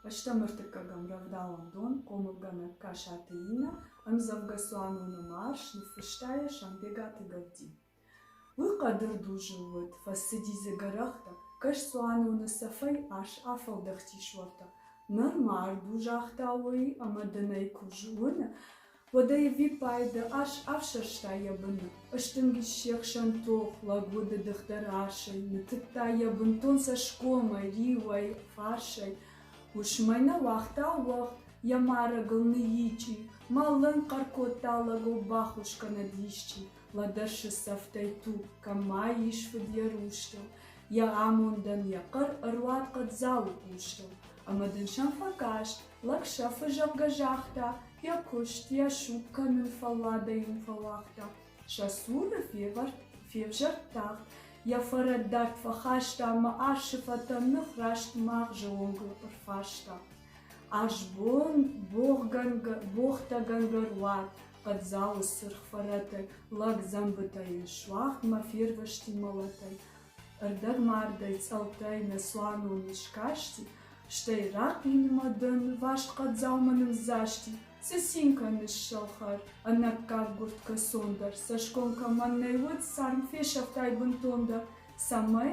Фӕстӕмӕ ӕртыккӕгӕм рӕвдауӕн дон хъомылгӕнӕг Касаты Иннӕ ӕмдзӕвгӕ «Цуаноны марш» ныффыста йӕ Самбегаты Гӕдди. Уый хъӕдырдузыл уыд, фӕцыди дзы гӕрӕхтӕ, кӕс цуаноны цӕфӕй ас афӕлдӕхтис уӕртӕ. Ныр мард у, загъта уый ӕмӕ дын ӕй куы зоны, Уӕдӕ ӕвиппайды ас афсӕрста йӕ быны, ыстынг ис се хсӕн тох, лӕг удыдых дӕр асӕй, ныттыдта йӕ бынтон цӕсгомӕй, риуӕй, фарсӕй. Уысмӕй нӕ уагъта уӕгъ, йӕ марӕгыл ныйичъи, мӕллын хъӕр кодта лӕгов баххуыс кӕнӕд исчи, лӕдӕрсы цӕфтӕй туг, кӕмӕй ис фыд йӕ рустыл, йӕ амондӕн йӕ хъӕр ӕруадхъӕд Дзауы хъустыл. Ӕмӕ дын сӕм фӕкаст, Лӕг сӕфы зӕгъгӕ загъта, йӕ куыст, йӕ суг кӕнын фӕлладӕй йын фӕуагъта. Сӕ цуры февӕрд, февзӕрд тагъд, йӕ фӕрӕддард фӕхаста ӕмӕ арсы фӕтӕн ных раст магъзы онгыл ӕрфарста. Азбон, богъгӕнгӕ, богътӕгӕнгӕ руад, хъӕддзауы сырх фӕрӕтӕй, лӕг дзӕмбытӕ йын суӕгъд мӕ фервӕзти мӕлӕтӕй. Ӕрдӕгмардӕй цъӕлттӕй нӕ цуанон искасти, стӕй рахъинмӕ дӕ нывӕст хъӕддзаумӕ нымдзасти, цъцинкӕ ныссӕлхӕр, ӕнаккаг гуырдтгӕ цон дӕр цӕсгом кӕмӕн нӕй уыд, царм фесӕфтай бынтон дӕр. Цӕмӕй?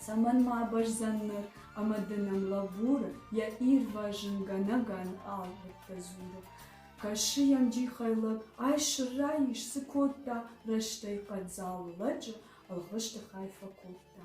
Цӕмӕн ма абӕрзӕн ныр, ӕмӕ ды нӕм лӕбуры, йӕ ирвӕзынгӕнӕг ӕнкъал уыдтӕ дзуры. Кӕсы йӕм джихӕй лӕг, ай сырӕй ис, цы кодта, рӕстӕй хъӕддзау лӕджы ӕлгъысты хай фӕкодта.